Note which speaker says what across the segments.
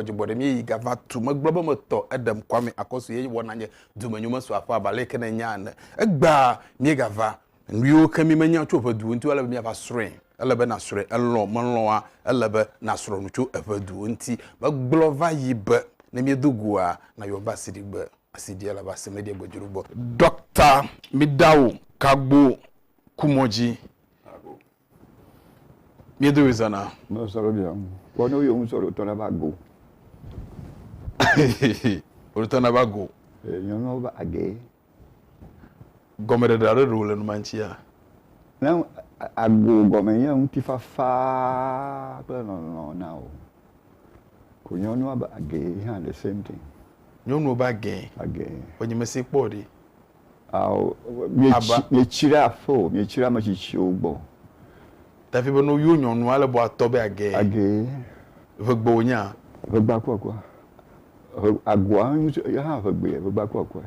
Speaker 1: xɔdzogbɔ ɖe míeyi gava tu megblɔ be metɔ eɖem kwame akɔsu ye wɔna nye dumenyome so aƒe abalɛ ke ne nya ene egbea míegava Nuyiwo ke mi menya tso eƒe duwo ŋuti o, ele be miava srɔ̃e. Ele be nasrɔ̃e, elɔ̃, melɔ̃a, ele be nasrɔ̃ nu tso eƒe duwo ŋuti. Megblɔ va yi be, ne miedo goa, nayɔm va asiɖigbe. Asiɖiɛ le va se, meɖiɛ gbe dzoɖogbɔ. Ɖɔkta, miɖa wo kagbo kumɔdzi. Miedo ye zana. Mɔ sɔrɔ dia mu.
Speaker 2: Kɔ no yo mu sɔrɔ tɔna ba go.
Speaker 1: O tɔna ba go. E nyɔnɔ ba
Speaker 2: age.
Speaker 1: Gɔme ɖe ɖa ɖe ɖo le numantia. Na
Speaker 2: ago gɔme nye ŋuti fafa kple lɔlɔ na o. Ko nyɔnua ba age ha the same thing. Nyɔnua ba
Speaker 1: age. Age. Ko nyemesi
Speaker 2: kpɔ
Speaker 1: ɖi. Ao,
Speaker 2: mietsi, Aba. mietsi ɖe aƒe o, mietsi ɖe ame tsitsiwo gbɔ. Davi
Speaker 1: be, No yo nyɔnu ale bɔ atɔ be agee. Agee.
Speaker 2: Ʋegbe wònye
Speaker 1: a? Ʋegbea ku akua.
Speaker 2: Ʋe, agoa hã ŋutsu, eya hã ʋegbee, ʋegbea ku akua.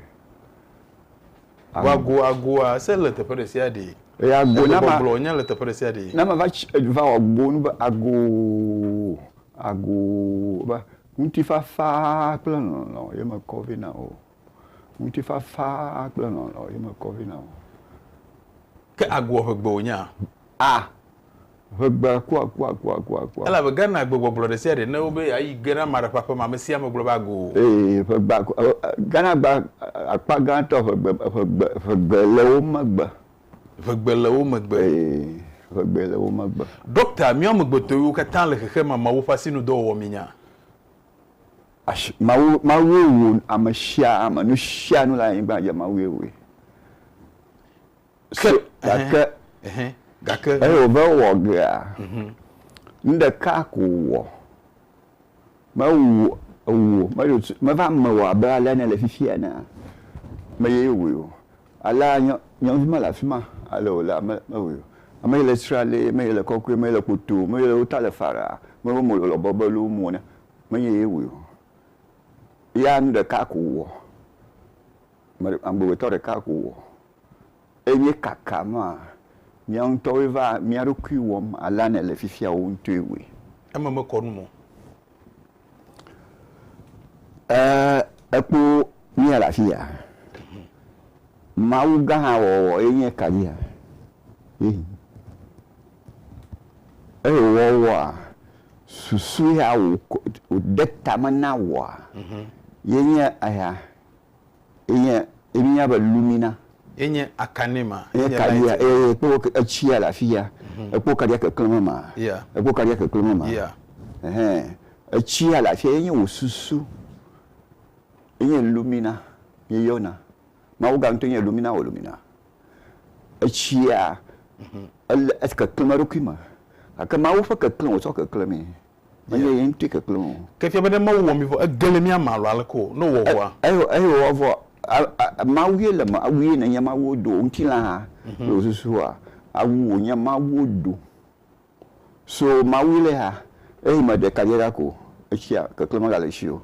Speaker 2: Vɔ ago,
Speaker 1: agoa, se le teƒe ɖe sia ɖee. Eye ago na ma. Egbɔgblɔ
Speaker 2: wònye le teƒe ɖe sia ɖee.
Speaker 1: Na ma va tsi, va wɔ
Speaker 2: go nu be agoo, agoo, be ŋutifafa kple lɔlɔ̃ ye mekɔ vɛ na wò. Ŋutifafa kple lɔlɔ̃ ye mekɔ vɛ na wò.
Speaker 1: Ke agboa ʋegbe wònyaa? A! Ʋegbe
Speaker 2: kuakuakuakuakua. Elabe
Speaker 1: Ghana gbegbɔgblɔ ɖesiaɖe ne wobe yeayi ge na ame aɖe ƒe aƒe me, amesiae ame gblɔ be ago o. Ee, ʋegbea,
Speaker 2: Ghana gba akpa gãtɔ ʋegbe, ʋegbe, ʋegbe le wo megbe. Ʋegbe le
Speaker 1: wo megbe. Ee, ʋegbe
Speaker 2: le wo megbe. Ɖɔkta, míawo
Speaker 1: amegbetɔwo katã le xexeame ameawo ƒe asinudɔwɔwɔ míenya. Ashi,
Speaker 2: Mawu, Mawue wò ame sia ame. Nu sia nu le anyigba dzi, Mawue wòe. Ke, so, gake, ehe, gake, eye wòve wɔ gea, mhm. nu ɖeka ko wòwɔ. Mewu wò, meva me wò abe alea nèle fifia enea, meyee wòe o. Alea nye nye ŋuti mele afi ma ale wòle ame mewui o. Ame yi le srali, ame yi le kɔkɔe, ame yi le kpotoo, ame yi le wo ta le faraa, ame yi wo mo le lɔ bɔbɔe loo mo ne, menye ye wui o. Ya nu ɖeka ko wòwɔ, ame ɖe amegbetɔ ɖeka ko wòwɔ. Eye míekaka nua, mía ŋutɔwoe va mía ɖokui wɔm alea nèle fifia wò ŋutɔe wui. Eme mekɔ
Speaker 1: nu me o.
Speaker 2: Ee, ekpo mía le afi ya. Mawu gã hã wɔwɔ ye nye ka dzia? Eyi. Eyi wɔwɔa, susu ya wòde tame na wòa, ye nye eya. Enye, míenya be lumina. Enye
Speaker 1: akanema. Enye kaɖia, eye
Speaker 2: ekpɔ etsia le afi ya. Ekpɔ kaɖia keklẽm ema. Ekpɔ kaɖia keklẽm ema. Ɛhɛ, etsia le afi ya, enye wò susu. Enye lumina míeyɔna. Mawu gã ŋutɔ nye lumina wɔ lumina. Etsia, ele, ekeklẽm eɖokui me. Gake Mawu ƒe keklẽ wòtsɔ keklẽmee. Menye ye ŋutɔe keklem o. Ke fia be ne Mawu wɔ mi
Speaker 1: vɔ, ege le mía me alo aleke o, ne wòwɔ ʋɔa? Eye, eye wòwɔ ʋɔ.
Speaker 2: A, Mawu ye le me, awu ye nènye Mawuwo do. Ŋutilã hã le wò susua? Awu wònye Mawuwo do. So Mawue le ha. Eyi me ɖeka dze ɖa ko. Etsia, keklem megale esi o.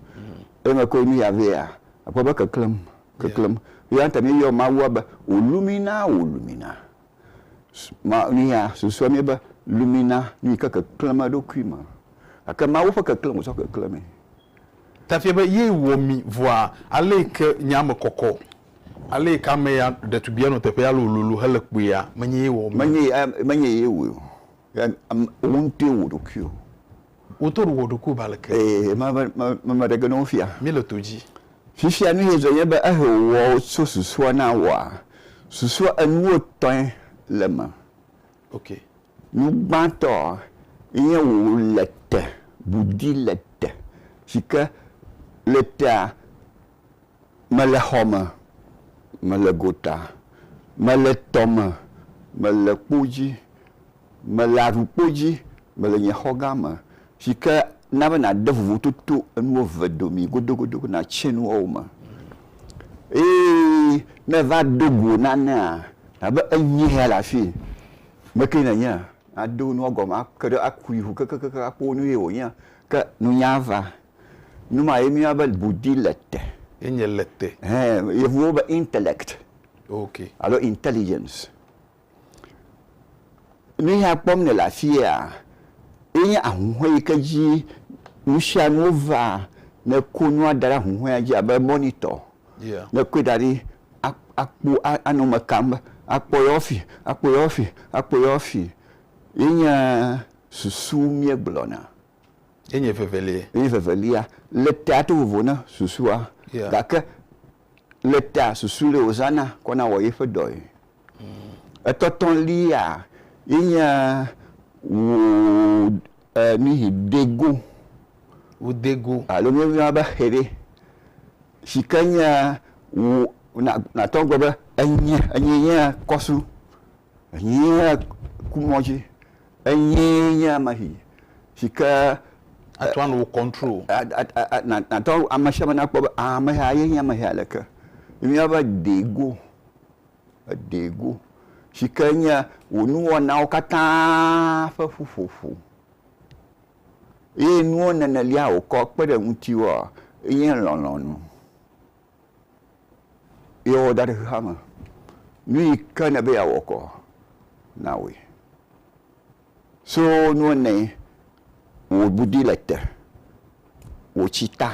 Speaker 2: Eyi me koe nuya vea, àkpɔ be keklem, keklem. Yɔa ŋutɔ míeyɔ Mawua be, Wòlu mí na, wòlu mí na. Nuya susua mí be lumina nu yi ke keklẽm eɖokui me. Gake Mawu ƒe keklẽ wòtsɔ keklẽ mee. Tafia
Speaker 1: be ye wɔ mi vɔa aleyi ke nyaa me kɔkɔ, aleyi ke ame ya ɖetugbia nɔ teƒea alo wòlolo hele kpuia, menye ye wɔ mi o. Menye ye
Speaker 2: wɔe o. Wò ŋutɔe wɔ wò ɖokui o. Woto ɖo
Speaker 1: wɔ ɖokuiwo ba leke. Eye ma me me me
Speaker 2: me ɖe ge ne wo fia. Mi le to dzi.
Speaker 1: Fifia nu yezɔ
Speaker 2: nye be ehe wɔ wo tso susua na wɔa susua enuwo tɔe le me. Ok.
Speaker 1: Nu
Speaker 2: gbãtɔ nye wo le te budi le te si ke le tea. Mele xɔ me, mele gota, mele tɔ me, mele kpo dzi, mele aɖukpo dzi, mele nye xɔ gã me, si ke na be nàde vovototo enuwo eve dome godogodo be nàtse nu woawo me. Eye ne èva do go nanea, nàbe enyee ya le afii. Ame kae nènye? Nado nua gɔme ake ɖe, akui ŋu kekekekeŋ akpɔ be nu ye wònyea. Ke nunya va Nu ma ye míeyɔna be budi le te. Ye nye le te.
Speaker 1: Hẽ, Yevuwo be
Speaker 2: intellect. Ok.
Speaker 1: Alo intelligence.
Speaker 2: Nu yi hã kpɔm nèle afiya ye nye ahuhɔe yi ke dzi nusianuwo vaa. Ne èko nua da ɖe ahuhɔea dzi abe monitor. Yeah. Ne èkɔe da ɖi akpɔ anɔ eme kam be akpɔ yewo fi, akpɔ yewo fi, akpɔ yewo fi. Ye nye susu míegblɔna. Ye nye
Speaker 1: vevelie. Ye nye vevelia.
Speaker 2: Le tea to vovo na susua. Yeah. Gake le tea susu le wòzãna kɔna wɔ yeƒe dɔe. Etɔtɔlia ye nye wò e nuyi dego. Wò dego. Alo míeyɔna be xe ɖe. Si ke nye wò na nàtɔ agblɔ be enye enye nye kɔsu. Enye kumɔdzi. Enyee nye ame si, si ke. Atsɔ anu
Speaker 1: wò control. Nàtɔ
Speaker 2: ame sia ame nakpɔ be ame sia ye nye ame sia aleke. Míawo be deego, deego si ke nye wò nuwɔnawo katã ƒe ƒuƒoƒo eye nuwo nenelia wòkɔ kpe ɖe ŋutiwòa enye lɔlɔ̃nu. Ye wɔ da ɖe xexea me. Nu yi ke ne be yeawɔ kɔ, na wɔe. So nu ene wò bu di le te, wò tsi ta,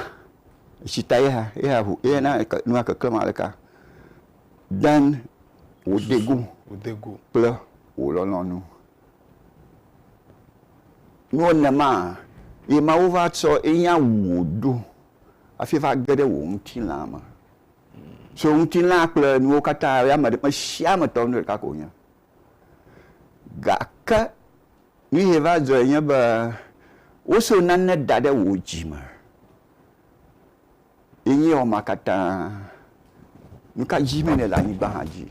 Speaker 2: etsi ta ye hã, ye hã ŋu, ye na nua keklem aleka, den wò degu kple wò lɔlɔ̃nu. Nu ene maa, ye Mawu va tsɔ ye nya wu wò ɖo hafi va ge ɖe wò ŋutilã me. So ŋutilã kple nuwo katã ya me ɖe mesia me tɔ nu ɖeka ko wonye. Gake nu ye va dzɔe nye be woso nane da ɖe wò dzi me ye nye wɔma katã. Nu ka dzi me nèle anyigba hã dzi?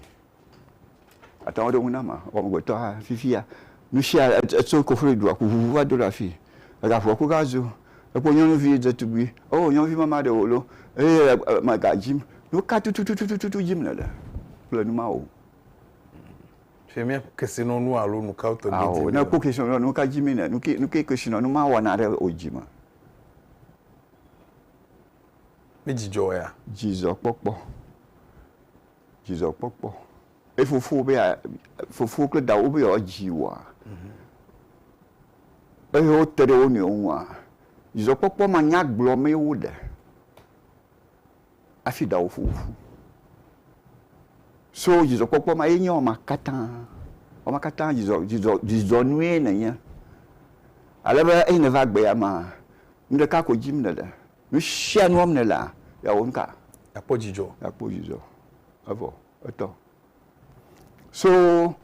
Speaker 2: Ate ŋu aɖo eŋu na ma wò amegbetɔa fifia. Nusia etso Kofli dua ku ʋuʋu va do ɖe afii. Ega ƒoa koka zu. Ekpɔ nyɔnuvi ɖetugbi. Oo nyɔnuvi mama ɖe wòlo eye le eme ga dzim. Nuka tututututu dzim nèle kple nu mawo?
Speaker 1: Fifia mía kesinɔnu alo nukawo tɔgbi dzim nèle? Ao, ne ekpɔ kesinɔnu alo
Speaker 2: nuka dzim nèle? Nuke nuke kesinɔnu ma wɔna ɖe wò dzi me?
Speaker 1: Mídzidzɔea? Dzidzɔkpɔkpɔ.
Speaker 2: dzidzɔkpɔkpɔ. Eye fofowò be ya, fofowò kple dawò be yewoadzi wòa, eye wote ɖe wo nɔewo ŋua, dzidzɔkpɔkpɔ manyagblɔ mee woɖe hafi dawò fofo ƒu. So dzidzɔkpɔkpɔ ma ye nye wama katã. Wama katã dzidzɔ, dzidzɔ, dzidzɔnue nènye. Ale be eyi nèva gbea mea, nuɖeka ko dim nèle. Nu sia nu wɔm nèlea, yeawɔ nu ka? Yeakpɔ dzidzɔ.
Speaker 1: Yeakpɔ dzidzɔ.
Speaker 2: Evɔ, etɔ. So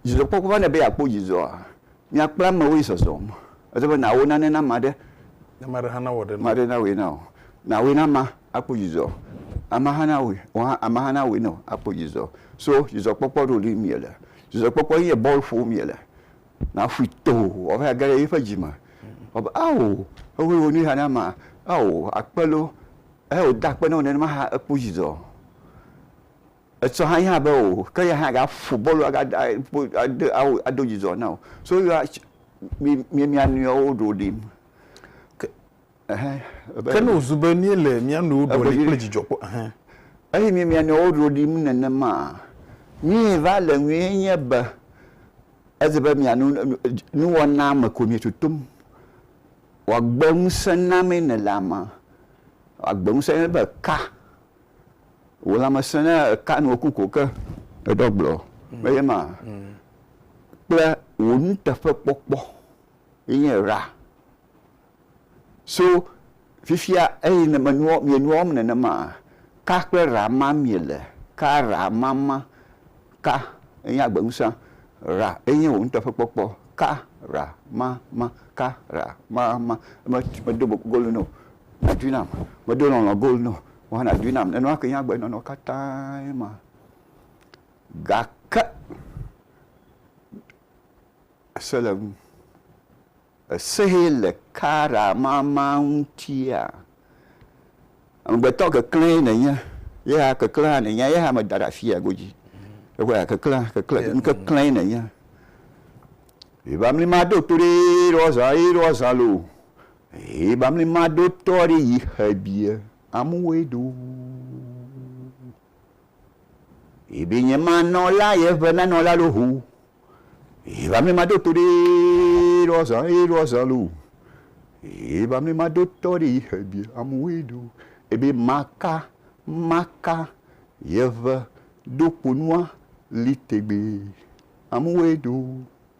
Speaker 2: dzidzɔkpɔkpɔ va nɛ be yeakpɔ dzidzɔa, nya kple amewo ye zɔzɔm. Ele be nàwɔ nane na ame aɖe. Ne ame aɖe hã
Speaker 1: nawɔ ɖe na wò. Ame aɖe nawɔe na wò.
Speaker 2: Nàwɔe na amea akpɔ dzidzɔ. Amea hã nawɔe, wò hã, amea hã nawɔe na wò akpɔ dzidzɔ. So dzidzɔkpɔkpɔ ɖo ɖim miele. Dzidzɔkpɔkpɔ ye nye bɔl ƒom miele. Naƒui too, woava age ɖe eƒe dzi me. Wògblɔ be, Ao, ewoe wɔ nu ya na ma. Ao, akpe loo. Ehe wòda akpe na wo nenema hã ekpɔ dzidzɔ. Etsɔ hã ye hã be o, ke ye hã agaƒo bɔlu agada kpo ade ao ado dzidzɔ na wò. So yɔa tsi mi mi mia nɔewo ɖoɖim. Ke.
Speaker 1: Ke ne wòzu be míele mía nɔewo ɖoli kple dzidzɔ kpɔ hã? Eye mi
Speaker 2: mia nɔewo ɖolim nenema? Nyuie va le ŋue nye be eze be mia nu nuwɔna me ko mietotom. Wòagbe ŋusẽ na mee nèle ame. Wòagbe ŋusẽ na mi be eka. Wò lãme sẽ ne èka nu wòku ko ke èɖɔ agblɔ. Menye ema? Kple wò nuteƒekpɔkpɔ ye nye ra. So fifia eyi ne menua, mienua wɔm nenema, ka kple ra ma miele, ka ra ma ma, ka enye agbeŋusẽ, ra enye wò nuteƒekpɔkpɔ, ka ra ma ma, ka ra ma ma, medo golu nɛ o, nàdoe nam, medo lɔlɔ̃ golu nɛ o, wò hã nàdoe nam, nenema kee nye agbenɔnɔ katã ma. Gake se le eŋu. Esee le kara mama ŋutia? Amegbetɔ keklẽe nènye, yehea keklẽ hã nènye, yehea meda ɖe afia godzi. Eŋea keklẽ, keklẽ, nukeklẽe nènye. Ebamli maɖo to ɖe eɖɔ zã, eɖɔ zã loo. Ebamli maɖo tɔ ɖe yi xebie, amewoe ɖo. Ebe nye ma nɔ la ye ebe na nɔ la lo ho. Eba me ma do to de lo azã ye lo azã lo. Eba me ma do tɔ de yi he bi amu we do. Ebe ma ka ma ka ye ebe do kponua li tegbe amu we do.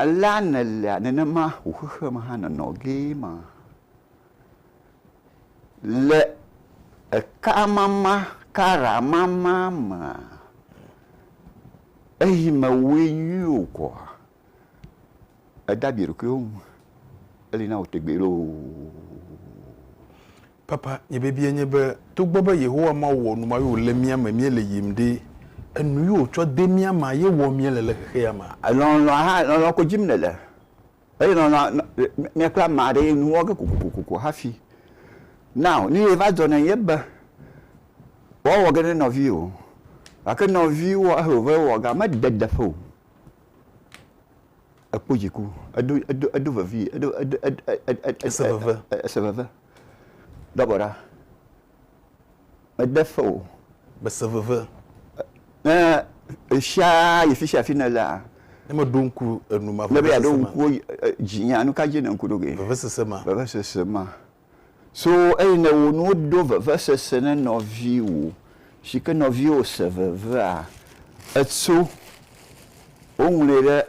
Speaker 2: Alea nèlea nenema wò xexeame hã nɔnɔ gee ma. Le ekamama, karamama mea, eyi mewɔe nyui o koa, èda abi ɖokuiwò ŋu. Eli na wò tegbee loo.
Speaker 1: Papa, nye biabiae nye be, togbɔ be Yehowa Mawu wɔ nu ma ye wòle mía me míele yim ɖe, enu ye wòtsɔ de mía mea ye wɔm míele le xexea mea? Lɔlɔ̃a hã,
Speaker 2: lɔlɔ̃ ko dim nèle, eye lɔlɔ̃a mia kple ame aɖe ye nu wɔ ge kokokoko hafi. Now, nu ye va dzɔ nɛ nye be, woawɔ ge ne nɔviwò o, gake nɔviwòa he wòva wɔ gea, mede deƒe o. Ekpɔ dziku, edo, edo, edo vevii, edo, edo, ese veve. Dɔ gɔ̃ ɖa, mede fe o. Mese veve.
Speaker 1: Ne
Speaker 2: ɣesia ɣi fisia fi nèlea. Ne meɖo ŋku
Speaker 1: enu ma vevesese ma. Ne be yeaɖo ŋku
Speaker 2: dzinyea, nu ka dzi nèle ŋku ɖo ge? Vevesese ma. Vevesese
Speaker 1: ma. So
Speaker 2: eye nèwɔ nuwo do vevesese ne nɔviwò, si ke nɔviwò se vevea, ètso. Woŋlɔe ɖe.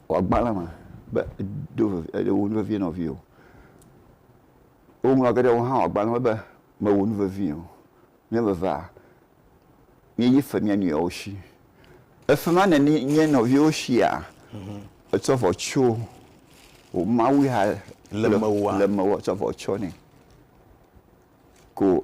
Speaker 2: wò agbalẽ me be èdo ve, èɖe wò nu vevie na nɔviwò. Woŋlɔ ge ɖe wò hã wò agbalẽ me be mewò nu vevii o. Mía evevea, míeyi fe mía nɔewo shi. Le fe ma nèni mía nɔviwo shia? Ètsɔ vɔ tsyɔ wò Mawu ya le mewòa? Tsɔ vɔ tsyɔ nɛ ko.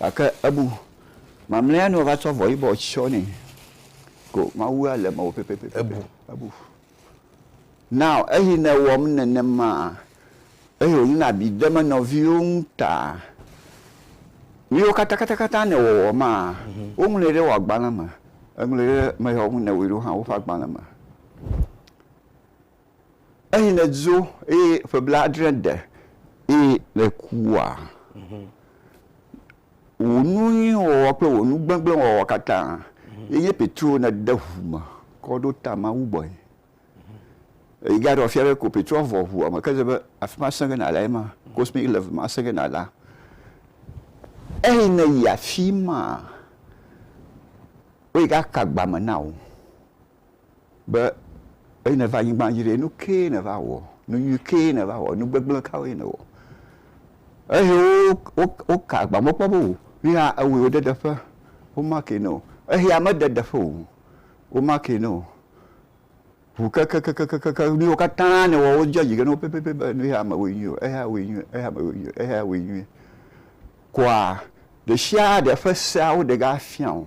Speaker 2: Gake ebu mamlɛa nu wòava tsɔ avɔ yibɔ tsyɔ nɛ ko Mawu ale mewò pɛpɛpɛ. Ebu. Ebu. Now eyi newɔm nenema eyi wònyena abi dem enɔviwo ŋu ta. Nuyiwo katã katã katã nèwɔwɔ maa, woŋlɔe ɖe wò agbalẽ me. Eŋlɔe ɖe ameyawo ŋu newɔe ɖo hã woƒe agbalẽ me. Eyi ne dzo eye ƒe blaadre de eye ne kua, wò nu nyui wɔwɔ kple wò nu gbegblẽ wɔwɔ katã ye nye Petro ne de ʋu me kɔ ɖo ta Mawu gbɔe. Eyi ga ɖɔ fia be ko Petro vɔ ʋua me ke ze be afi ma sẽge na la ye ma, cosmic level ma sẽge na la. Eyi ne yi afi ma, woyi ga ka gbame na wò. be eyi nèva anyigba dzi ɖe, nu kee nèva wɔ, nu nyui kee nèva wɔ, nu gbegblẽ kawoe nèwɔ. Eye woka agbam, wokpɔ be o, nu ya ewɔe wode ɖeƒe, womakee ne wò. Eya mede ɖeƒe o, womakee ne wò. Ŋu kekekekekekekeŋ, nu yiwo katã nèwɔ, wodzɔ dzi ge na wò pɛpɛpɛ be nu ya mewɔe nyuie o, eya wòe nyuie, eya mewɔe nyuie o, eya wòe nyuie. Koa ɖesiaɖe ƒe seawo ɖegafia wò.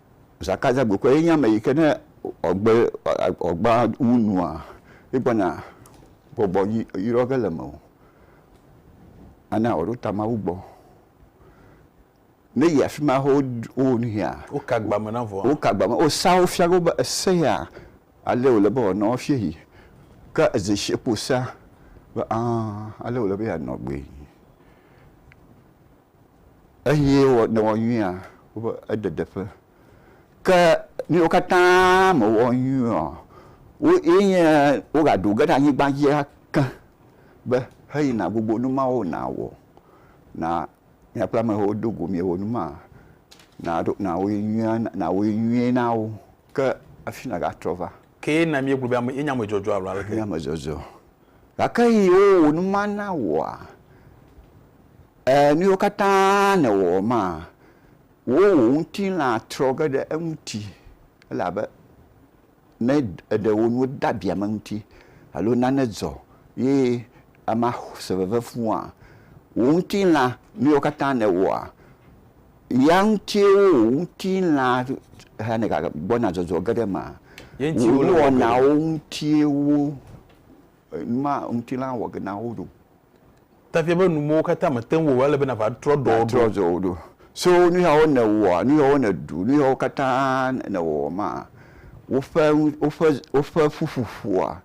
Speaker 2: Zaka dza gbekoe enye ame yi ke ne ɔgbe ɔgbea ŋu nua, egbɔna gbɔgbɔ yi yrɔ ge le mewò. Ana wòaɖo ta Mawu gbɔ. Ne yi afi ma hafi woɖ wowɔ nu hea. Woka agba me na vɔa?
Speaker 1: Woka agba me. Wosea wo
Speaker 2: fia wo be ese ya ale wòle be wòanɔ woafia yi. Ke ezeshi kpo sea be aa ale wòle be yeanɔ gbee. Eye ne ewɔ nyuia, woƒe ededeƒe. Ke ne wo katã mewɔ nyuiɔ, wo ye nye wogaɖo ge ɖe anyigba dzi ake be, heyi nàgbogbo nu mawo nàwɔ na míaƒe amewo do go míawo nu ma, nàɖo nàwɔe nyuie nàwɔe nyuie na wo. Ke hafi nàgatrɔ va. Ke ne míegblɔ be
Speaker 1: ame ye nye ame dzɔdzɔ alo aleke? Nye ame dzɔdzɔ.
Speaker 2: Gake eye wowɔ nu ma na wòa? Ẽ, nuwo katã nèwɔ ma, wò wò ŋutilã trɔ ge ɖe eŋuti, elabe ne èɖe wò nuwo de abi ame ŋuti, alo nane dzɔ, ye amea se veve fũua, wò ŋutilã, nuwo katã nèwɔa, ya ŋutie wò wò ŋutilã hena gbɔna dzɔdzɔ ge ɖe eme. Ye ŋuti Wò wole wɔ ge ɖo.
Speaker 1: nuwɔnawo ŋutie
Speaker 2: wò numa ŋutilã wɔ ge na wo ɖo. Tafia
Speaker 1: be nu mɔwo katã mète ŋu wɔa, ele be nàva trɔ ɖɔ ɖo. Nàtrɔ ɖɔ ɖo. So nu yawo
Speaker 2: nèwɔa, nu yawo nèɖu, nu yawo katã nèwɔwɔ maa, woƒe, woƒe, woƒe ƒuƒoƒua,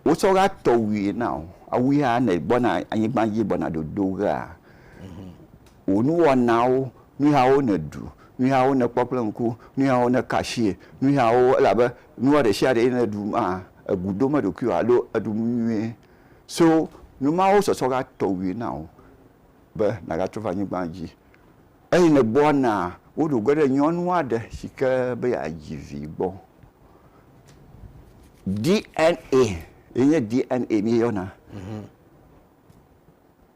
Speaker 2: wotsɔ ɣea tɔ wui na wò. Awui hã ne ègbɔna anyigba dzi gbɔna dodo ɣea, wò nuwɔnawo, nu yawo nèɖu, nu yawo nèkpɔ kple ŋku, nu yawo nèka asie, nu yawo, elabe nua ɖe sia ɖe yi nèɖu maa, ègu ɖom eɖokuiwò alo èɖu nu nyuie. So nu mawo sɔsɔ va tɔwui na wò be nàgatrɔ va anyigba dzi. Eye nègbɔna woɖo ge ɖe nyɔnu aɖe si ke be yeadzi vi gbɔ. DNA ye nye DNA míeyɔna.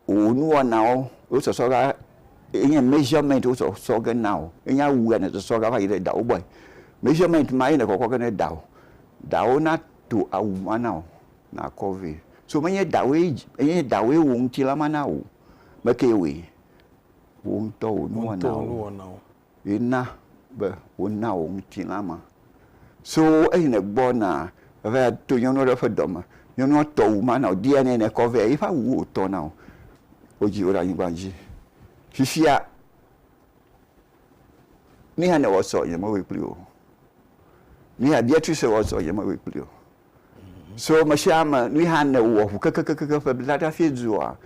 Speaker 2: Wò nuwɔnawo wo sɔsɔ va ye nye measurement wo sɔsɔ ge na wò. Ye nye awu ya nèsɔsɔ ge va yi ɖe dawò gbɔe. Measurement ma ye nèkɔkɔ ge ɖe dawò. Dawò nato awu ma na wò. Nàkɔ vɛ. So menye dawòe dzi, menye dawòe wò ŋutilã ma na wò o. Ame kae wɔe? Wò ŋutɔ wò nuwɔnawo ye na be wona wò ŋutilã ma. So eyi nègbɔ na eva to nyɔnu aɖe ƒe dɔme. Nyɔnua tɔ wu ma na wò, dia nɛ nèkɔ vɛ. Eƒe awuwo wòtɔ na wò. Wodzi wò ɖe anyigba dzi. Fifia, nuya nèwɔ sɔ, nyemewɔe kpli wò o. Nuya Beatrice wɔ sɔ, nyemewɔe kpli wò o. So mesiame nui hã ne wowɔ ʋu kekekeke ƒe bla ɖe hafi dua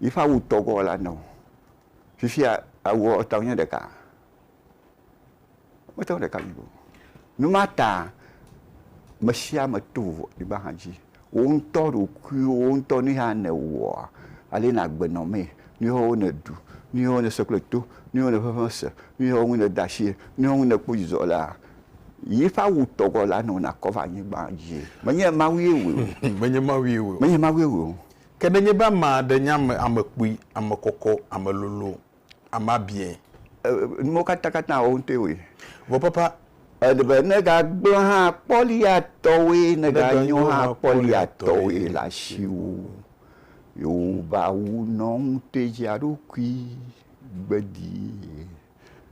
Speaker 2: yiƒe awu tɔ gɔ la neo. Fifia awua ɔta wonye ɖeka. Wonye ɔta ɖeka mi go. Numata mesiame to vovo anyigba hã dzi. Woŋtɔ ɖokuiwo woŋtɔ nui hã ne wowɔa ale na gbe nɔ mee. Nuyiwo ne ɖu, nuyiwo ne se kple to, nuyiwo ne ƒeƒe se, nuyiwo ŋu ne da asie, nuyiwo ŋu ne kpɔ dzidzɔ lea, Yiƒe awu tɔ gɔ la nɔ nakɔ va anyigba dzi. Menye Mawue wɔe o. Menye Mawue wɔe o. Menye Mawue wɔe o. Ke nenye be ame
Speaker 1: aɖe nye ame, ame kpui, ame kɔkɔ, ame lolo, ame abiɛ. E, nuwo
Speaker 2: katã katã wo ŋutɔe wɔe. Vɔ papa.
Speaker 1: Ele be ne
Speaker 2: gagblẽ hã kpɔliatɔwoe, ne ganyo hã kpɔliatɔwoe le asiwò. Yewo ƒe awu nɔ ŋutɔe dzi eɖokui gbedii.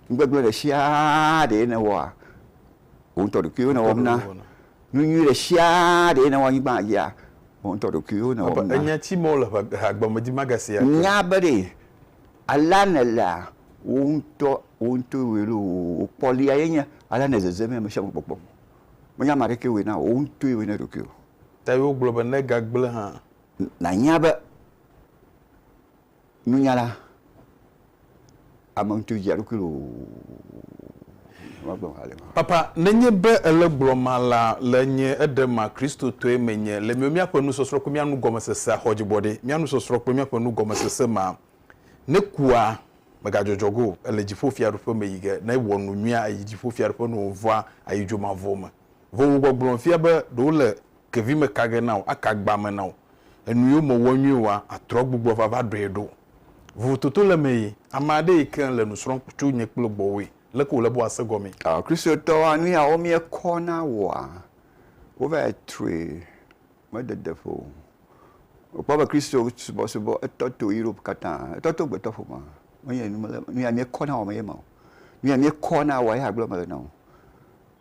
Speaker 2: Nugbegblẽ ɖe sia ɖee nèwɔa, wò ŋutɔ ɖokuiwò nèwɔm na. Nu nyui ɖe sia ɖee nèwɔ anyigba dzia, wò ŋutɔ ɖokuiwò nèwɔm na. Ènya tsi mɔ le
Speaker 1: hagbeamedzi magasia ke. Nya be ɖe
Speaker 2: alea nèlea, wò ŋutɔ, wò ŋutɔ wɔe ɖo. Wò kpɔlia ye nye alea nèzeze mee ame sia ame kpɔkpɔm. Menye ame aɖekee wɔe na wò o, wò ŋutɔe wɔe na ɖokuiwò. Eya wogblɔ be,
Speaker 1: Ne egagblẽ hã. Nànya be.
Speaker 2: Nunyala, ame ŋutɔ dzi eɖokui loo magblɔ hale ma. Papa, nenye be
Speaker 1: ele gblɔ ma la le nye eɖe ma Kristotɔe menye, le miwo miaƒe nusɔsrɔ̃ kple mia nugɔmesesea xɔdibɔɖe, mia nusɔsrɔ̃ kple miaƒe nugɔmesese ma ne kua, megadzɔdzɔ ge o, ele dziƒo fiaɖuƒe me yi ge, ne wɔ nu nyuia ayi dziƒo fiaɖuƒe ne wòvɔa ayi dzomavɔ me. Vovo gbɔgblɔ fia be ɖe wo le kevi me ka ge na wò, aka agba me na wò. Enu yiwo me wɔ nyuie wòa, atrɔ gbugbɔ va va ɖɔe ɖo. Vovo toto le eme yi. Ame aɖe yi ke le nu srɔ̃m tso nye kple gbɔwòe, leke wòle be wòase gɔmee? Ɔ, Kristotɔwoa,
Speaker 2: nu yawo mie kɔ na wòa, wo va yi trɔe, me dede ƒo o. Wò kpɔ be Kristo subɔ subɔ, etɔ to Europe katã, etɔ to gbetɔ ƒomea. Menye nu ya mie kɔ na wòa me ye ma o. Nu ya mie kɔ na wòa ye agblɔ me le na wò.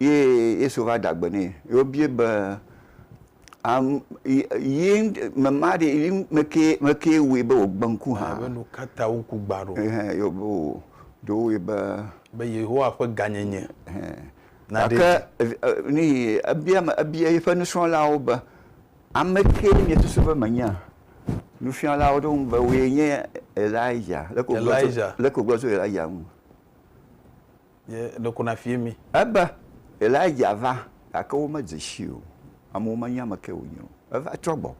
Speaker 2: Ye Yesu va da gbe nɛ. Ye wobie be, Am, yi, yi, me ma ɖe, yi me kee, me kee wɔe be wògbe ŋku hã? Ebe nu ka ta woku
Speaker 1: gbã ɖo? Ɛhɛ, ye wòbe wo,
Speaker 2: ɖo woe be. Be Yehowa ƒe
Speaker 1: gãnyenye Ɛhɛ. naɖee dzi. Gake
Speaker 2: ev, e, nii, ebia me, ebia yeƒe nusrɔ̃lawo be, Ame kee miesusu be menyea? Nufialawo ɖo eŋu be, Wòe nye Elijah. Leke wògblɔ tso, Elijah. leke wògblɔ tso Elijah ŋu?
Speaker 1: Ye ɖe ko nafie mi. Ebe,
Speaker 2: Elijah va, gake womedze sii o. Amewo menya ame kae wònye o. Eva trɔ gbɔ.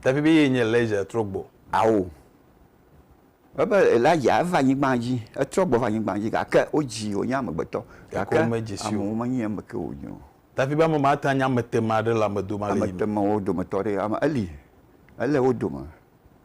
Speaker 2: Dafi
Speaker 1: be yee nye Elijah trɔ gbɔ. Ao.
Speaker 2: Ebe, Elijah eva anyigbaa dzi. Etrɔ gbɔ va anyigbaa dzi, gake wodzii wònye amegbetɔ. Gake Gake womedze sii o. amewo menyae ame kae wònye o. Dafi be, Ame ma ate
Speaker 1: ŋu anye ameteame aɖe le ame dome ale yi me. Ameteamewo dometɔ
Speaker 2: aɖee. Ame, eli, ele wo dome.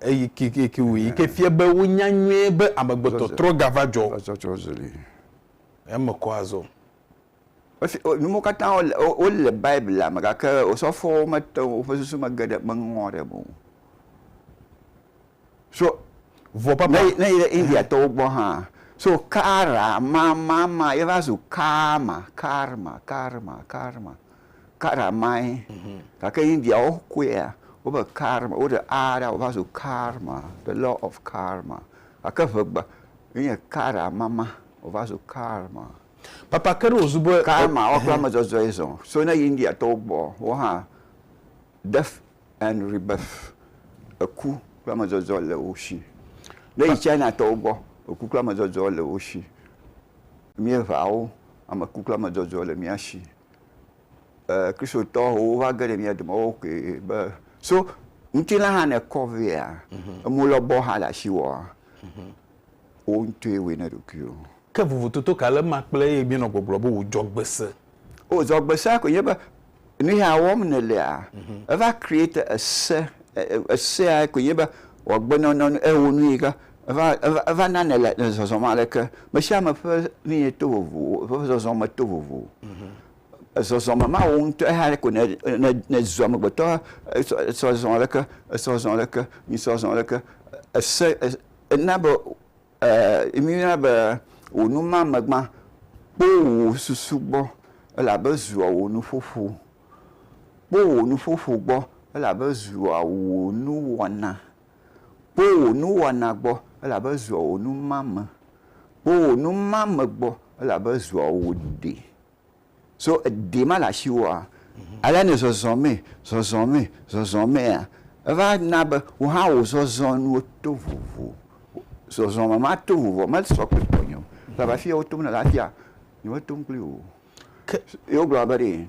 Speaker 1: Eyi ke ke ke wòyi ke fia be wonya nyuie be amegbetɔ trɔ ga va dzɔ. Etsɔ tsɔ zeli. Eme kɔ azɔ. Esi
Speaker 2: wo nuwo katã wo le wo le Biblia me gake osɔfowo mete ŋu woƒe susu me ge ɖe meŋɔ ɖe eme o. So Vɔ papa.
Speaker 1: Ne ne yi ɖe Indiatɔwo
Speaker 2: gbɔ hã so kara ma ma ma ye va zu karma karma karma karma. Kara mae, mhm. gake Indiawo kɔea wobe karma, woɖe a ɖa wòva zu karma, the law of karma, gake ŋegba enye kara mama wòva zu karma. Papa ke
Speaker 1: ɖe wòzu be karma wo kple ame
Speaker 2: zɔzɔe zɔ, so ne yi Indiatɔwo gbɔ wo hã death and rebirth, eku kple ame zɔzɔ le wo si. Ne yi Chinatɔwo gbɔ eku kple ame zɔzɔ le wo si, míeŋea wo, ame ku kple ame zɔzɔ le mía si. Kristotɔwo va ge ɖe mía dome woawo koe be so ŋutilã hã ne kɔ vea mhm. emu lɔbɔ hã le asi wɔa mhm. wo ŋutɔe wɔe ne ɖokuiwo. Ke vovototo
Speaker 1: ka le ema kple eye míenɔ gbɔgblɔ be wòdzɔ gbese? O zɔ gbese
Speaker 2: koe nye be nu ya wɔm nèlea mhm. eva create ese esea koe nye be wòagbenɔnɔ ewɔ nu yi ke Eva, eva, eva nane le, le zɔzɔm aleke? Mesiame ƒe nu ye to vovo, eƒe zɔzɔme to vovo. Mhm. Ezɔzɔme ma wò ŋutɔ eya ɖe ko ne, ne, ne zu amegbetɔ, esɔ, esɔ zɔ aleke, esɔ zɔ aleke, mi sɔ zɔ aleke, ese, es, ena be, e, mi yɔna be wò nu ma megbã kpo wò susu gbɔ, elabe ezua wò nuƒoƒo. Kpo wò nuƒoƒo gbɔ, elabe ezua wò nuwɔna. Kpo wò nuwɔna gbɔ, elabe zua wò numame. Kpo wò numame gbɔ, elabe zua wò ɖe. So ɖe ma le asiwòa? Ale ne zɔzɔ mee, zɔzɔ mee, zɔzɔ mea, eva na be wò hã wò zɔzɔnuwo to vovo. Zɔzɔme ma to vovoa mesɔ kple tɔnye o. Elabe afia wotom nèle afia, nyemetom kpli wò o. Ke ye wogblɔ be ɖee.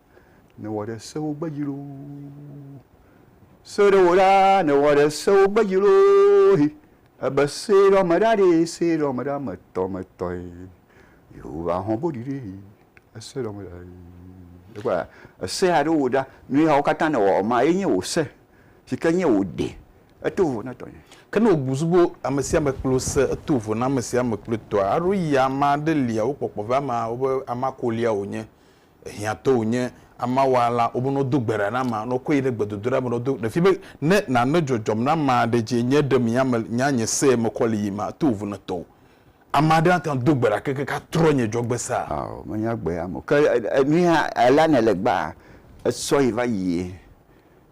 Speaker 2: nèwɔ ɖe sewo gbedzi loo. Se ɖe wò ɖaa, nèwɔ ɖe sewo gbedzi loo hi. Ebe se ɖe ame ɖa ɖee, se ɖe ame ɖa ame tɔ me tɔe. Yehowa hɔn boɖi ɖe yi, ese ɖe ame ɖa yi. Ekpɔa, ese aɖe wò ɖa, nu yawo katã nèwɔ ma ye nye wò se, si ke nye wò ɖe. Eto vovo na tɔnye. Ke ne wòbu zu be
Speaker 1: ame sia ame kple wò se, eto vovo na ame sia ame kple tɔa. Aɖo ya ame aɖe lia wokpɔkpɔ be amea wobe amea kolia wònye. ehiã to wò nye ama wa la wobe no do gbe ɖa na ma no ko yi ɖe gbe dodo ɖa me no do ɖe fi be ne na ne dzɔdzɔm na ma ɖe dzi enye ɖe mi ya me nya nye se me kɔ li yi ma to vu ne tɔwo ama ɖe ata do gbe ɖa ke ke ka trɔ nye dzɔ gbe sa. Ao me nya gbe ya
Speaker 2: mo ke enu ya ela ne le gba esɔ yi va yie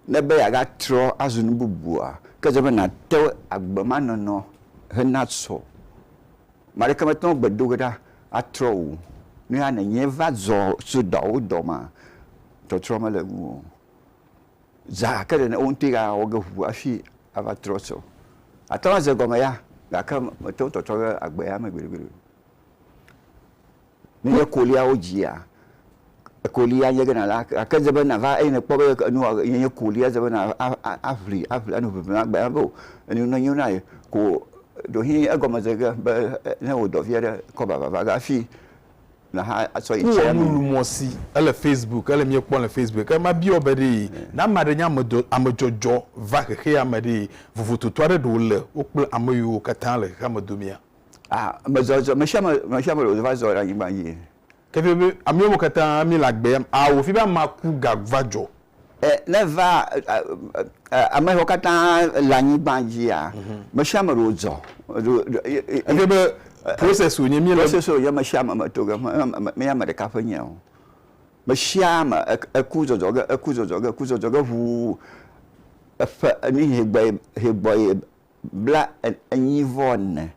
Speaker 2: ne be ya ga trɔ azu nu bubua ke ze be na te agbe ma nɔnɔ he na sɔ Ame aɖeke mete ŋu agbe do ge ɖa atrɔ o. Nu ya nènye va zɔ tso dɔawo dɔ ma, trɔtrɔ mele ŋuwò o. Zã gake ɖe wo ŋutɔe awɔ ge ʋuu hafi ava trɔ tsɔ. Àte ŋu aze gɔme ya gake mète ŋu tɔtrɔ ɖe agbe ya me gbeɖegbeɖe o. Nenye ekoliawo dzia, ekoli anye ge nàla, gake edze be nàva eye nèkpɔ be enua yenye koli, edze be nà a a aʋli aʋli anɔ ʋiʋlim agbe na be o, enu nenyo na ye ko o. Ɖewohĩ egɔme ze ge be ne wò dɔvi aɖe kɔ vava va ge hafi nàxa asɔ yi tsia mee. Nuwɔnulumɔ̃si,
Speaker 1: Ele Facebook, ele míekpɔm le Facebook. Ke mabiɔ wò be ɖe, ne ame aɖe nye ame dɔ, ame dzɔdzɔ va xexeame ɖe, vovototo aɖe ɖe wòle wo kple ame yiwo katã le xexeame domea? Ah, mezɔ
Speaker 2: zɔ, me sia me, me sia me le va zɔ ɖe anyigba dzi. Keke be
Speaker 1: ameo me katã mi le agbea me, awɔ fi be amea ku ga va dzɔ. E, ne
Speaker 2: va a, a, ame siwo katã le anyigba dzia, me sia me ɖo dzɔ. Ɖo, ɖo, e, e,
Speaker 1: e, Keke be process wònye mi le. process wònye me sia ame me
Speaker 2: to ge, me, me, menye ame ɖeka ƒe nye o. Me sia ame e, eku zɔzɔ ge, eku zɔzɔ ge, eku zɔzɔ ge ŋuu eƒe enu yi hegbɔe, hegbɔe bla enyi vɔ ne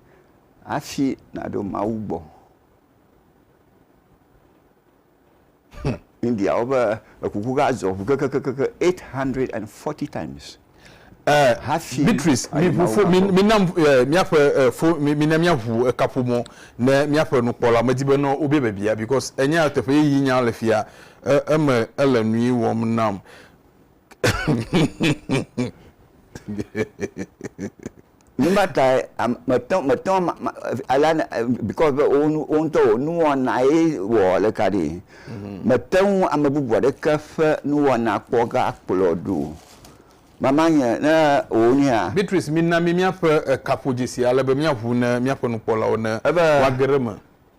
Speaker 2: hafi naɖo Mawu gbɔ. Hm, Indiawo be ekuku ga zɔ ŋu kekekeke 840 times. Eh, hafi
Speaker 1: Beatrice, mi ʋu fo, mi, mi nam eh, miaƒe eh, fo, mi, mi na miaʋu ekaƒomɔ ne miaƒe nukpɔla. Medi be nɔ wobia biabia because enya teƒe yi nya le fia, eh, eme ele nui wɔm nam.
Speaker 2: Numa tae mete ŋu mete ŋu ale because be wo ŋutɔ wò nuwɔna ye wɔ ɖeka ɖi. Mhm. Mete ŋu ame bubu aɖeke ƒe nuwɔna kpɔ ga kplɔ ɖo. Mama nye ne wò nea. Beatrice mina mi
Speaker 1: míaƒe kaƒodzesi ale be míaʋu ne míaƒe nukpɔlawo ne woage ɖe eme.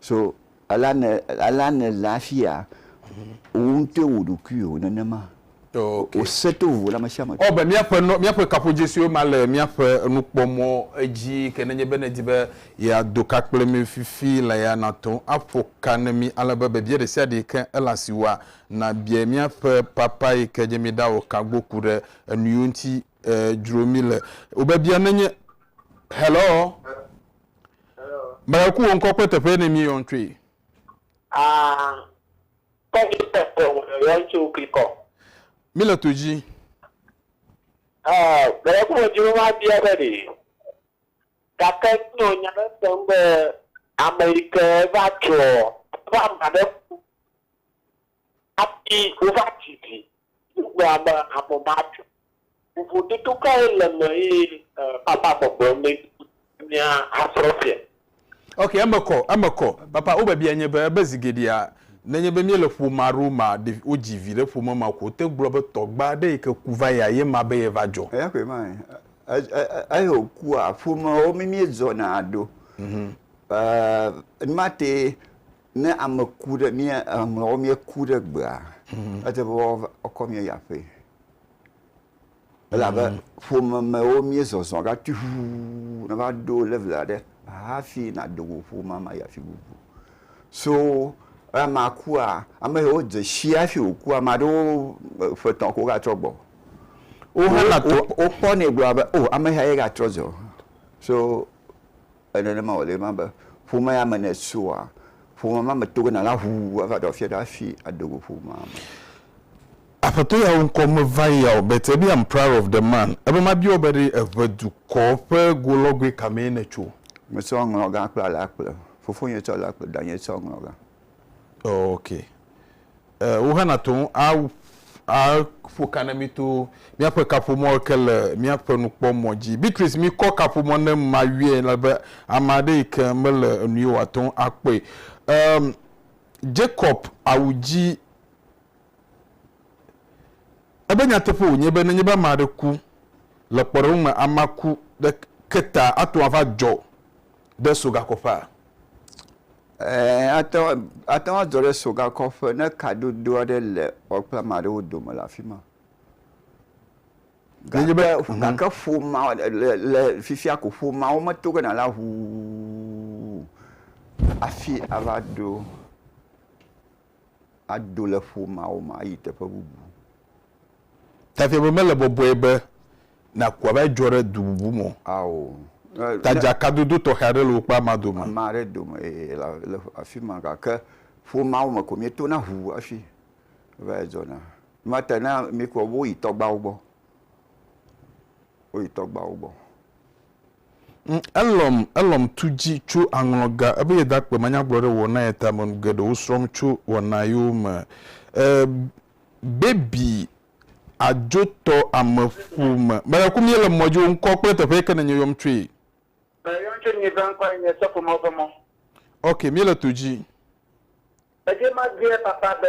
Speaker 2: So alea nè, alea nèle hafi ya, wò ŋutɔe wò ɖokuiwò nenema. Ok. Wò
Speaker 1: se to
Speaker 2: vovo le ame sia ame tɔ. Ɔ, be míaƒe nɔ, míaƒe
Speaker 1: kaƒodzesiwo ma le míaƒe nukpɔmɔ dzi ke nenye be nèdi be yeado ka kple mí fifi la ya, nàte ŋu aƒo ka ne mí ale be biabia ɖe sia ɖe yi ke ele asiwòa, nàbiae míaƒe Papa yi ke nye Míeɖawɔ ka gbo ku ɖe enuyiwo ŋuti eh, dzro mi le wobebia nenye hello mele ku wo ŋkɔ kple teƒe ne mi yɔn tsoe Ah,
Speaker 3: kɔ mi te te wò le yɔn tso klikɔ. mi le to
Speaker 1: dzi Ah,
Speaker 3: mele ku wo dzro ma bia be ɖi. Gake nɔ nya ɖe sem be ame yi ke va trɔ va ma ɖe ku. Hafi wova didi wogblɔa be avɔ matso. Vovototo kae le eme eye Papa gbɔgblɔm be mía asrɔ̃ fia? Ok, eme
Speaker 1: kɔ, eme kɔ. Papa, wo biabia nye be, ebe zi geɖea, ne nye be mía le ƒome alo ma ɖe wo dzi vi ɖe ƒome ma ko, te gblɔ be tɔgba aɖe yi ke ku va yia ye ma be ye va dzɔ. Eya koe ma e,
Speaker 2: eyi wo kua, ƒome wo mi mí zɔna ɖo. Ehh, numa te Ne ame ku ɖe mía ŋlɔwo míeku ɖe gbea, edze be woakɔ mía yi aƒee. Elabe ƒomemewo míezɔzɔ ɖa tuiʋuu nava ɖo level aɖe hafi nàdo go ƒomea me ayi afi bubu. So ne amea kua, ame siwo dze si hafi wòkua, ame aɖewo ƒe etɔ̃ ko wogatrɔ gbɔ. Wo,
Speaker 1: wokpɔnɛ gblɔa be,
Speaker 2: O, ame sia ye gatrɔ zɔ. So Nenema wòle ema be, ƒome ya me ne èsua, ƒome ma me to gena la ʋuu ava ɖe afia ɖe afi ado go ƒomea me.
Speaker 1: Aƒetɔ yawo ŋkɔ meva ya o, but ebiam proud of the man. Ebe mabia wò be ɖe èʋe dukɔ ƒe golɔgoe ka mee nètso? Metsɔ ŋlɔgã
Speaker 2: kple alakple. Fofonye tsɔ alakple, danye tsɔ ŋlɔgã. Oh,
Speaker 1: okay. eh, wo hã na to ŋu a, a ƒo ka ne mi to mía ƒe kaƒomɔ ke le mía ƒe nukpɔmɔ dzi. Beatrice, mi kɔ kaƒomɔ ne ma yɔe la be ame aɖe yi ke mele enu ye wòate ŋu a kpɔe. Um, Jacob awu dzi ebe nyateƒe wònye be nenye be ame aɖe ku le kpɔɖeŋu me amea ku ɖe ke ta ato ava dzɔ ɖe sogakɔƒea. Ɛ̃, ate ŋu,
Speaker 2: ate ŋu azɔ ɖe sogakɔƒe ne kadodo aɖe le wò kple ame aɖewo dome le afi ma. Nenye be, Gake, mhm. gake ƒomea, le, le fifia ko, ƒomea wometo gena la ʋuu hafi ava ɖo. ado le ƒo mawo me ayi teƒe bubu.
Speaker 1: Tafia be mele bɔbɔe be naku ava edzɔ ɖe du bubu me o. Ao.
Speaker 2: Ta
Speaker 1: dzakadodo tɔxɛ aɖe le wò kple amea dome. Ame aɖe dome
Speaker 2: ee, le afi ma gake ƒo mawo me ko míetona ŋu hafi va yi dzɔna. Nua ta na míekpɔ be woyi tɔgbawo gbɔ. Woyi tɔgbawo gbɔ. Ŋ, elɔm,
Speaker 1: elɔm tu dzi tso aŋlɔ ga ebe yedakpe manyagblɔ ɖe wɔna ye tame nu geɖewo srɔm tso wɔna yewo me. E, baby adzo tɔ ame ƒome. Mele ku mie le mɔ dzi wo ŋkɔ kple teƒe yeke nenye yɔm tsoe. Me yɔm tso
Speaker 3: nyi ƒe ŋkɔ enye sɔfo mɔ ƒe mɔ. Ok, mie le
Speaker 1: to dzi.
Speaker 3: Edie ma gbeɛ papa be.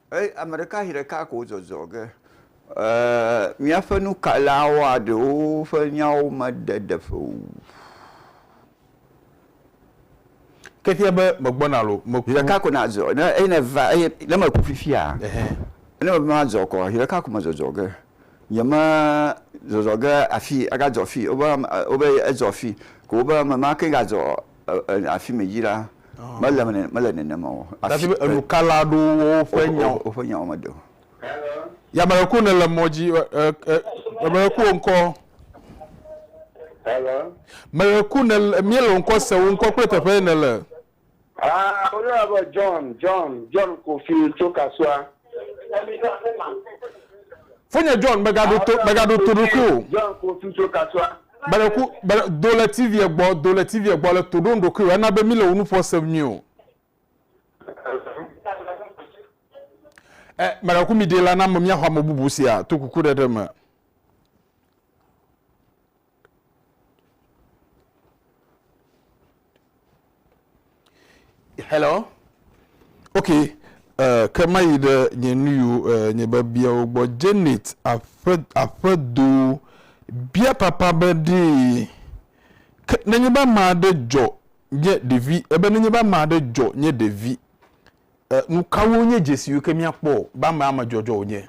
Speaker 1: Eye ame ɖeka zi
Speaker 2: ɖeka ko zɔzɔ ge. Míaƒe nukalawoa ɖewo ƒe nyawo meɖe ɖeƒe o.
Speaker 1: Ke fia be megbɔna alo meku. Zi ɖeka ko nazɔ.
Speaker 2: Ne eye ne va eye ne meku fifia. Ne meva mazɔ kɔ zi ɖeka ko mezɔzɔ ge. Nye me zɔzɔ ge afi agadzɔ afi wobe wobe ezɔ afi ko wobe ame ma ke gazɔ afi me dzi la, mele eme nene, mele nenem o. Dafi be enukala
Speaker 1: aɖewo wɔ woƒe nya o. Woƒe nyawo meɖe o. Yamɛrɛ ko nele mɔ dzi ɛ ɛ ɛ yamɛrɛ ko ŋkɔ. Hello.
Speaker 3: Mɛrɛ ko nele
Speaker 1: miele ŋkɔ se wo ŋkɔ kple teƒe nele. Ah, wo
Speaker 3: yɔ be John, John, John Kofi tso Kasua.
Speaker 1: Fonye John megaɖo to megaɖo to ɖoku o. John ko tu tso
Speaker 3: kasua. Meɖeku meɖe
Speaker 1: do le TV gbɔ do le TV gbɔ le to ɖo ɖoku o ena be mi le wo nuƒo sem nyui o. Ɛ meɖeku mi ɖe la na me mia xɔ ame bubu sia to kuku ɖe ɖe me. Hello. Ok, uh, ke mayi ɖe nye nuyiwo uh, eh, nye biabiawo gbɔ. Janet aƒe aƒedo bia papa be ɖee. Ke nenye be ame aɖe dzɔ nye ɖevi, ebe nenye be ame aɖe dzɔ nye ɖevi Nukawoe nye dzesiwo ke míakpɔ be ame amedzɔdzɔ wònye?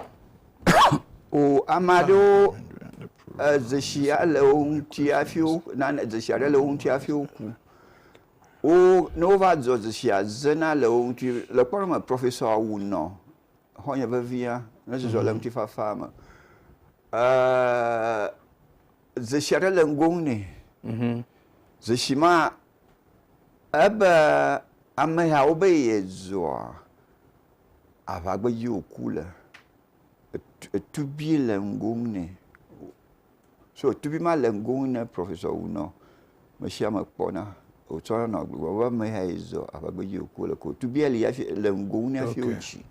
Speaker 2: O, ame aɖewo dzesi le wo ŋuti hafi wo, nane dzesi aɖe le wo ŋuti hafi woku. Wo, ne wova dzɔ dzesia zena le wo ŋuti. Le kpɔɖeŋu me, Professor Awu nɔ xɔ̃nye vevia ne zɔzɔ le ŋutifafaa me. Dzesi aɖe le ŋgonu nɛ. Dzesi ma Ebe amehawo be yezua aʋa gbedzi wòku le, etubi le ŋgo nɛ. So etubi ma le ŋgo nɛ professor wu nɔ mesiame kpɔna wotsɔ nɔ gbegblɔ be ameha ye zɔ aʋa gbedzi wòku le ko tubia li hafi le ŋgo nɛ hafi wotsi.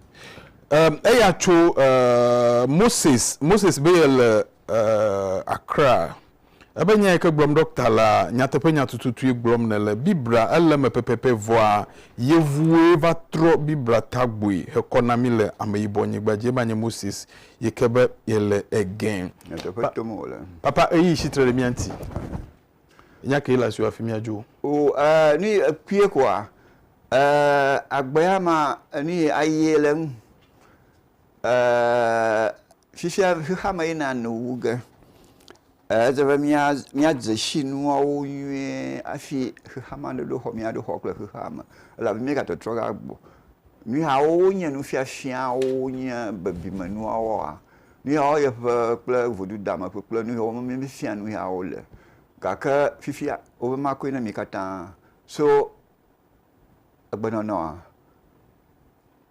Speaker 2: Um,
Speaker 1: eya tso uh, Moses, Moses be yele uh, Accra. Ebe nyae ke gblɔm ɖɔkta lea, nyateƒenya tututue gblɔm nèle. Biblia ele eme pɛpɛpɛ vɔa, yevuwoe va trɔ Biblia tagbɔe hekɔ na mí le Ameyibɔnyigba dzi. Ema nye Moses yi ke be yele ege. Nyateƒe tom wòle. Papa, ɣeyiɣi tsi tre ɖe mía ŋuti. Nya kee le asiwò hafi míadzo. O, ɛɛ, ne
Speaker 2: èkpɔe koa, ɛɛ, agbea ma, nuyi aye le eŋu. fifia xexeame yina nu wu ge. Edze be mía míadze si nuawo nyuie hafi xexeame aɖe ɖo xɔ míaɖo xɔ kple xexeame elabe míegatɔtrɔ ge agbɔ. Nu yawo wonye nufiafiawo wonye bebime nuwoa? Nu yawo ye ƒe kple vodudeame ƒe kple nu yawo me míefia nu yawo le. Gake fifia wobe makɔe na mi katã so egbenɔnɔa.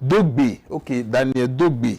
Speaker 1: Do gbe, ok, Daniel do gbe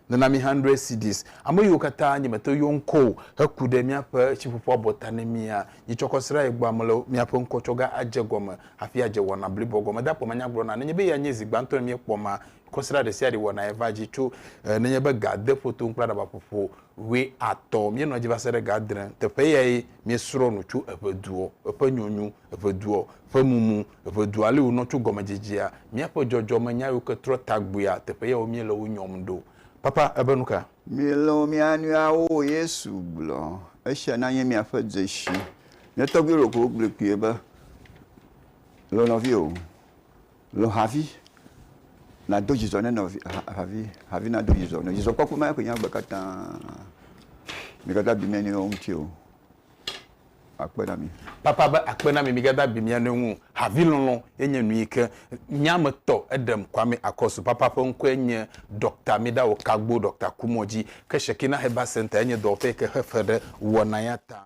Speaker 1: ne na mi hundred cedis. Ame yiwo katã nye me te yɔ ŋkɔ o heku ɖe míaƒe tsiƒuƒu abɔta ne mía. Nye tsɔ kɔ srã ye gbɔ ame le míaƒe ŋkɔ tsɔ ga adze gɔme hafi adze wɔna bliboa gɔme. Dakpɔ manya gblɔ na nenye be ya nye zi gbãtɔ ye míekpɔ ma kɔ srã ɖe sia ɖe wɔna ye va dzi tso e nenye be ga ade ƒo toŋ kple aɖaba ƒoƒo ʋe atɔ. Míenɔ dzi va se ɖe ga adre. Teƒe yae míesrɔ nu tso eƒe duɔ eƒe nyɔnu. Eŋeduɔ, ƒe mumu, Eŋedua li wònɔ tso gɔmedzedzea, míaƒe dzɔdzɔme nya yiwo ke trɔ tagbuia, teƒe yawo míele wo nyɔm ɖo. Papa, ebe nu ka? Milɔ̃ mia
Speaker 2: nɔeawo, Yesu gblɔ. Esia nanye miaƒe dzesi. Ne tɔgbi ɖeko wogblɔe kpuie be, Lɔ̃ nɔviwò, lɔ̃ havi, nàdo dzidzɔ ne nɔvi, havi, havi nado dzidzɔ nɔ. Dzidzɔkpɔkpɔ ma ye koe nye agbe katã. Migaɖo abi mia nɔewo ŋuti o. akpe na mi. Papa be akpe na mi
Speaker 1: migada abi mia nɔewo ŋu o. Havi lɔlɔ ye nye nu yike mia me tɔ eɖem Kwame Akosu papa ƒe ŋkɔe nye Doctor Midawo Kagbo Doctor Kumɔ dzi ke Shekinah Herbal Center ye nye dɔwɔƒe yike xe fe ɖe wɔna ya ta.